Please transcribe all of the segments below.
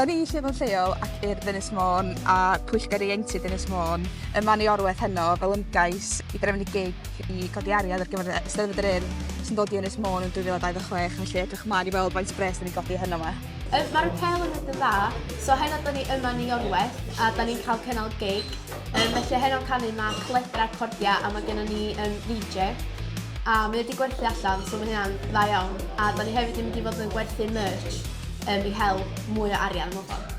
Da ni lle fo'n lleol ac i'r Ddynes Môn a Pwyllgor Ieuenctid Ddynes Môn ym Manu Orweth heno fel ymgais i drefnu gig i godi ariad ar gyfer Eisteddfod yr Urdd sy'n dod i Ynys Môn yn 2026 felly edrych ymlaen i weld faint o bres da ni'n godi heno yma. Mae'r apêl yn mynd yn dda, so heno da ni yma yn Iorwerth a da ni'n cael cynnal gig. Um, felly a heno'n canu mae cledra cordia a mae gennym ni um, VJ. A mae wedi gwerthu allan, so mae hynna'n dda iawn. A da ni hefyd yn mynd i fod yn gwerthu merch um, i hel mwy o arian mewn ffordd.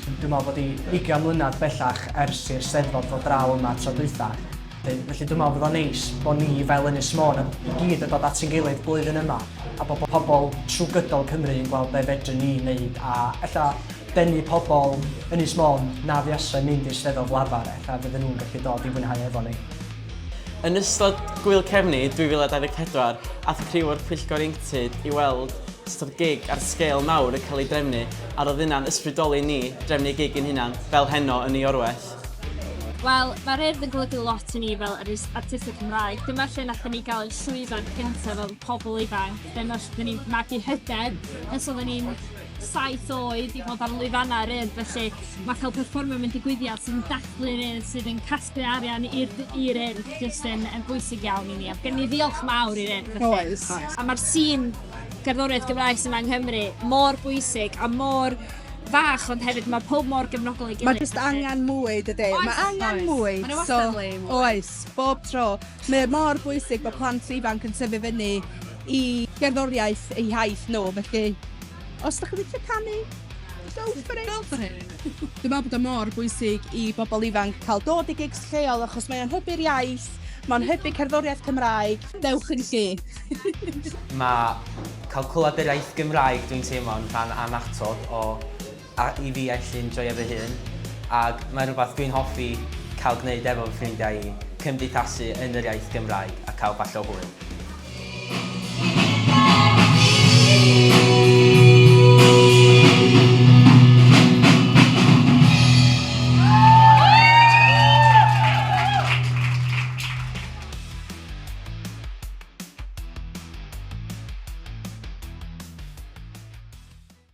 Dwi'n meddwl bod i 20 mlynedd bellach ers i'r Steddfod fod draw yma tro dwytha. Felly dwi'n meddwl bod o'n neis bod ni fel Ynys Môn i gyd yn dod at yn gilydd blwyddyn yma a bod pobl trwy gydol Cymru yn gweld be fedrwn ni wneud a ella denu pobl Ynys Môn na fuasai mynd i'r Steddfod lafar ac a fydden nhw'n gallu dod i fwynhau efo ni. Yn ystod Gŵyl Cefni 2024, aeth criw o'r Pwyllgor Ieuenctid i weld sut oedd gig ar sgêl mawr yn cael ei drefnu a roedd hynna'n ysbrydoli ni drefnu gig ein hunan fel heno yn Niorweth. Wel, mae'r Urdd yn golygu lot i ni fel Ynys Artistig Cymraeg. Dyma lle nathon ni gael ein llwyfan cyntaf fel pobl ifanc, dyma lle oedden ni'n magu hyder, os oedden ni'n saith oed i fod ar lwyfannau yr Urdd felly mae cael perfformio mewn digwyddiad sy'n dathlu'r Urdd sydd yn casglu arian i'r i'r Urdd jyst yn, yn bwysig iawn i ni a gen i ddiolch mawr i'r Urdd felly. Oes. A mae'r sîn gerddoriaeth Gymraes yma yng Nghymru mor bwysig a mor fach ond hefyd mae pob mor gefnogol ei gilydd. Mae jyst angen mwy dydy. Oes, mae angen oes. mwy. Mae wastad so, le mwy. Oes, bob tro. Mae mor bwysig bod plant ifanc yn tyfu fyny i gerddoriaeth eu hiaith nhw, felly os dych chi'n licio canu, go for it! Go for it! Dwi'n meddwl bod o mor bwysig i bobl ifanc cael dod i gigs lleol achos mae o'n hybu'r iaith, mae'n hybu cerddoriaeth Cymraeg, dewch yn lle! Mae cael clywed yr iaith Gymraeg dwi'n teimlo'n rhan annatod o a i fi actually enjoio fy hun ac mae'n rhywbeth dwi'n hoffi cael gwneud efo fy ffrindiau i, cymdeithasu yn yr iaith Gymraeg a cael bach o hwyl.